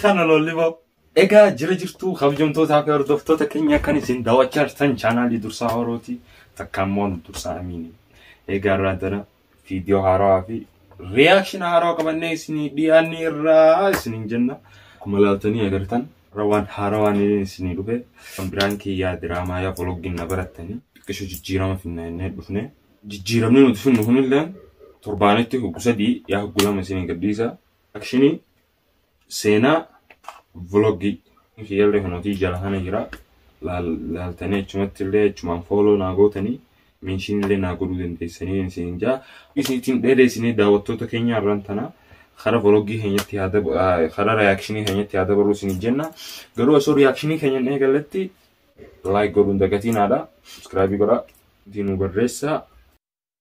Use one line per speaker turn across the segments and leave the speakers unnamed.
Kana lolli boo. Egaa jira jirtuu kabajamtootaa fi hordoftoota keenya kan isin daawwachaa jirtan chaanaalii dursaa horooti takka immoo dursaa amiini. Egaa irraa dana viidiyoo haarawaa fi riyaakshina haarawaa qabannee isinii dhiyaanne irraa isiniin jenna. Akkuma ilaaltanii agartan rawaan haarawaan isinii dhufe kan biraan kiyyaa diraamaa yaa vloggiin na barattanii xiqqisho jijjiirama finna innee dhufne. Jijjiiramni nuti finnu kunillee torbaanitti hoggu sadii yaa hoggu lama isinii gadhiisa. Akshini seenaa vlogii kiyyallee kanootii jala kana jira laaltanii achumatti illee achumaan fooloo naa gootanii meenshiin illee naa godhuu dandeessanii isin jaa isiitiin dheedeessinee daawwattoota keenya irraan tana karaa vlogii keenyatti haa dab- ah, karaa reakshinii keenyatti haa dabaluu isin jenna garuu osoo reakshinii keenyan eegalletti laayik godhuun dagatiinaadha subscribe godhaa diinuu barreessaa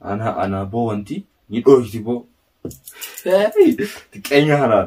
Ana ana boo wanti ni dhooyti boo. Xiqqeenya kanaa.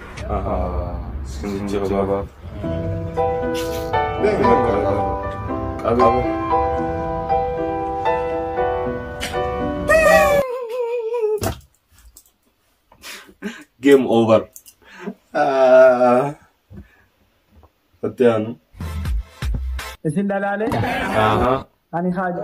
Game over. Itti aanu.
Isin dhalaalee Ahaa.
ani haaju.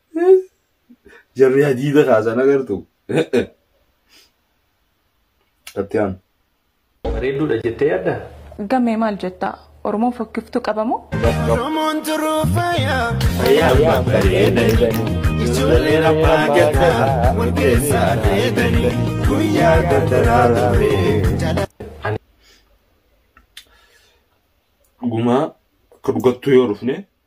Jarri hadiida kaasan agartu. Itti aanu.
Bareedduudha jettee yaadda? Gammee maal
jetta? Oromoon fokkiftuu qabamoo? Oromoon turuu faayaa fayyaa bareedanii ijoollee rabbaa gataa wal keessaa dheedanii
guyyaa gardaraa turee. Gumaa akka dhugattuu yoo dhufne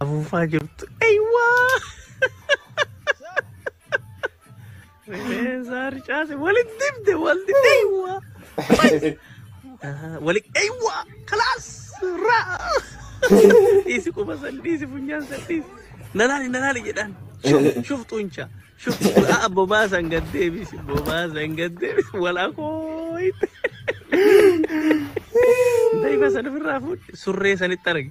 Afuufaa jirtu. Eywaa! Rifeensaa ricaase walitti dibde walti eywaa! Wali eywaa! Kalaas! Raa! Dhiisi quba san dhiisi funyaan san dhiisi. Nalaali nalaali jedhaan. Shuf shuf xunchaa. Shuf aa bobaa san gad deebisi bobaa san gad deebisi walaa kooyte. Daiba san ofirraa fuudhe surree sanitti arge.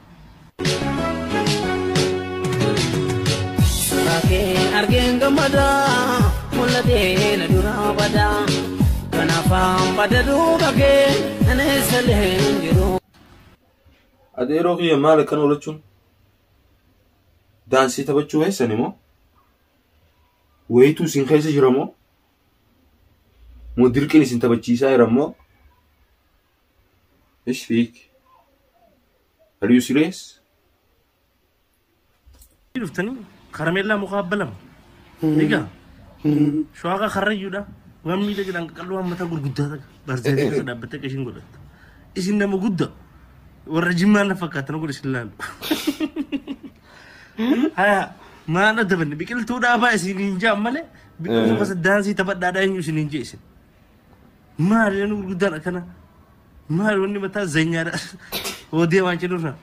Rakkee argeen gammada mul'atee na dura bada kanaafaan bada duuba kee ani salee hin jiru.
Adeeroo kiyya maal akkan oolachuun daansii taphachuu keessan immoo wayituu isin keessa jira moo moo dirqiin isin taphachiisaa jira moo ايش فيك؟ Are you serious?
dhuftanii karameellaa mukaa abba lama egaa shawaaqa karrayyuudha waan miidha jedhan qaqalloo waan mataa gurguddaa ta'a barsiisee keessa dhaabbattee akka ishiin godhatta isin nama gudda warra jimmaa na fakkaatan godhe isin laalu haya maal adda banne biqiltuu dhaabaa isin hin jaan malee biqiltuu gosa daansii taphadhaadhaa eenyu isin hin jee isin Maali namni gurguddaan akkana? Maali wanni mataa zanyaadha? Hoo deemaa hin jedhurra.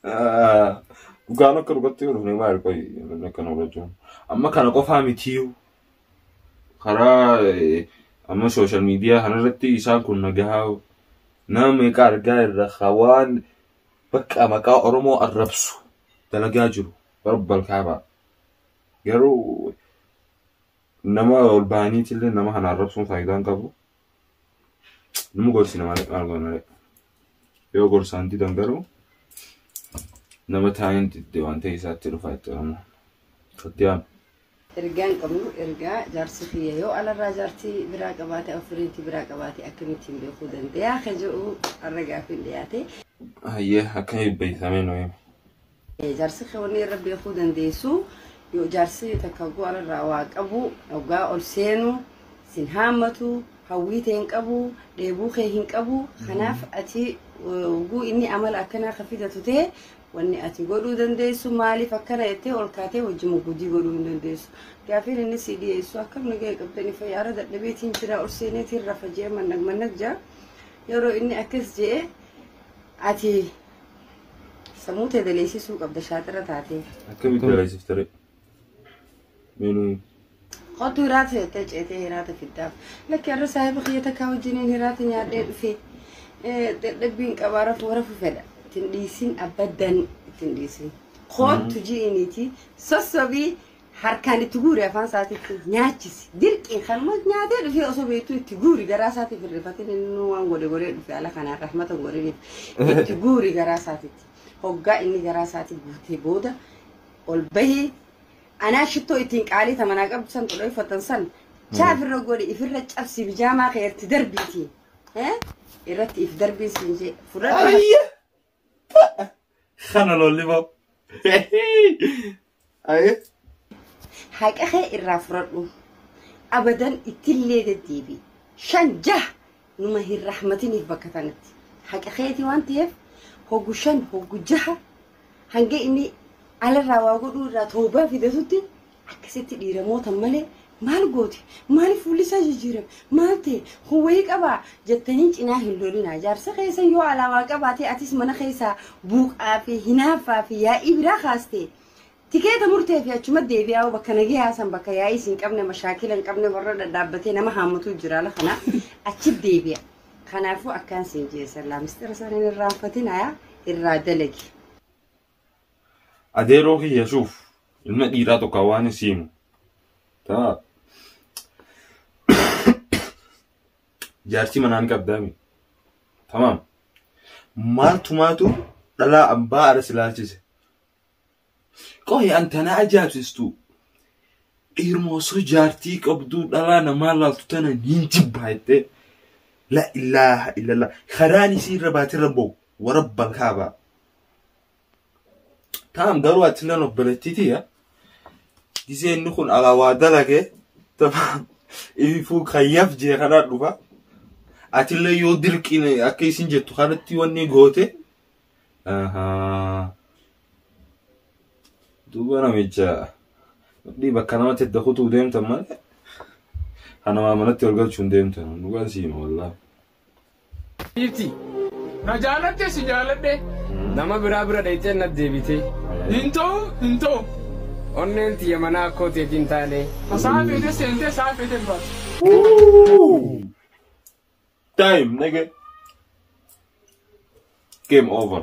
Ah,
Dhugaan akka dhugatti yoo dhufne maal qoyi namni akkana hubachuu. Amma kana qofaa mitiyyuu karaa eh, amma sooshaal miidiyaa kanarratti isaan kun nagahaa nama meeqa argaa irra hawaan bakka maqaa Oromoo arrabsu dalagaa jiru warra balkaabaa. Garuu nama ol bahaniitillee nama kana arrabsuun faayidaa hin qabu. Nama gorsina malee maal goona malee. Yoo gorsaan didan garuu nama taa'een didde waan ta'e isaatti dhufa itti Oromoo. Kattiyaam. Ergaa
hin qabnu ergaa jaarsi kiyya yoo alarraa jaartii biraa qabaate ofiriitii biraa qabaate akkamittiin beekuu dandayaa ka jedhu arra gaafiin dhiyaate. Hayyee akka
eebbisamee
nu hime. Jaarsi kee
wanni irra
beekuu
dandeessu
yoo jaarsi takka go'ara irraa waa qabu hoggaa ol seenu sin haammatu hawwii tee hin qabu dheebuu kee hin qabu kanaaf ati hogguu inni amala akkanaa ka fidatu ta'e wanni ati godhuu dandeessu maaliif akkana jettee ol kaatee wajjin muggudii godhuu hin dandeessu gaafiin inni sii dhiyeessu akkam nagaya qabdanii fayyaara dadhabeetiin jira ol seeneetiin rafa jee mannag mannag jaa yeroo inni akkas jee ati Samuu tee daleessisuu qabda shaaxira taatee. Akkamitti dalaysifte
ree? Meenuu
Kottu hiraata jettee ceetee hiraata fiddaaf. Lakki har'a saahiba kiyya takkaa wajjiniin hiraata nyaadhee dhufee eh, dadhabbiin qabaa rafuu rafu fedha. Ittiin dhiisin abaddan ittiin dhiisin. Kottu ji'iniiti sossobii Harkaan itti guuri afaan isaatitti nyaachisi. Dirqiin kanuma nyaatee dhufee osoo beektuu itti guuri garaa isaatiif hin rifatin inni waan godhe godhee dhufe ala kanaan rahmata hin godhiniif. Itti guuri garaa isaatitti. Hoggaa inni garaa isaatii guutee booda ol bahii anaa shittoo ittiin qaalii tamanaa qabdu san xudhoo uffatan san chaaf irra godhi ifirra cabsi bijaamaa kee irratti darbiiti. Eh? Irratti if darbiin siin jee fudhadhu. Ayya!
Kana lolli boo. Ayee.
Haqa kee irraa fudhadhu. Abadan ittillee deddeebi. Shan jaha numa hin rahmatiniif bakka tanatti. Haqa keeti waan ta'eef hoggu shan hoggu jaha hanga inni alarraa waa godhuu irraa toobaa fidatutti Akkasitti dhiira mootan malee maal goote? Maaliif fuulli isaa jijjiirame? Maal ta'e? Kun wayii qabaa? jettanii cinaa hin lolinaa. Jaarsi keessan yoo alaa waa qabaate atis mana keessaa buuqaa fi hinaaffaa fi yaa'ii biraa kaaste. Tikeeta murtee fi achuma deebi'aa bakka nagayaa san bakka yaa'ii isin qabne mashaakila hin qabne warra dhadhaabbatee nama haammatuu jira ala kana achi deebi'a. Kanaafuu akkaan siin jeesallaa mistira isaanii hin irraanfatin ayaa irraa dalagi.
Adeeroo kiyya shuuf ilma dhiiraa tokko waan isiimu. Taa. Jaartii manaan qabdaami. Tamaam. Maaltu maatu dhalaa abbaa aras ilaalchise. Qohi an tana ajaa'ibsistu. Dhiiruma osoo jaartii qabduu dhalaa namaa laaltu tana niin jibbaa jettee. La ilaaha illallah. Karaan isii irra baatee rabboo. Warabbal kaabaa. Taam garuu atilleen obboleettiitiya. Gisee inni kun alaa waa dalagee tamaan ifuu kayyaf jee kanaa dhufa. Atillee yoo dirqiin akka isin jettu kanatti wanni goote. Ahaa. Duuba namicha dhii bakka namatti edda kutuu deemtan malee. Kanamaa manatti ol galchuun deemtan. Dhugaan siima wallaahi.
Dhiirti na jaalatte si jaaladhe. Nama biraa bira dhayxee nat deebitee. Hin ta'u hin ta'u. Onneen tiyya manaa akkoo teeti hin taane. Hasaa feete seentee saa feete baate.
Time, nigga. Game over.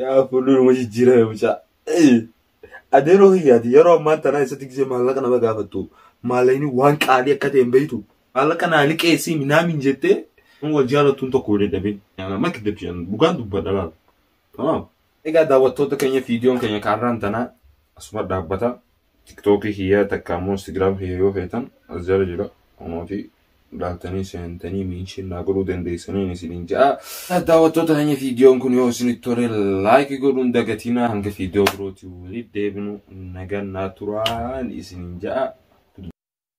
Yaa fuulduruma jijjiirame mucaa. Adeeroo kiyyaati yeroo ammaan tanaa isatti gisee maallaqa nama gaafattu maallaqni waan qaalii akka ta'e hin beektu. Maallaqa naa liqeessii minaamin jettee nama wal jaalattuun tokko wal dadhabee. Amma kiddabchi jedhan dhugaan dubbadha laal. Tamaam. Egaa daawwattoota keenya viidiyoon keenya kaarraan tanaa asuma dhaabbata. tiktookii kiyyaa takka ammoo instagram kiyya yoo feetan as jala jira kunooti laaltanii seentanii miinshin naa godhuu dandeessaniin isiniin ja'a daawwattoota keenya fiidiyoon kun yoo isinitti tole laayikii godhuun dagatinaa hanga fiidiyoo birootii walitti deebinu nagaan naa turaan isiniin ja'a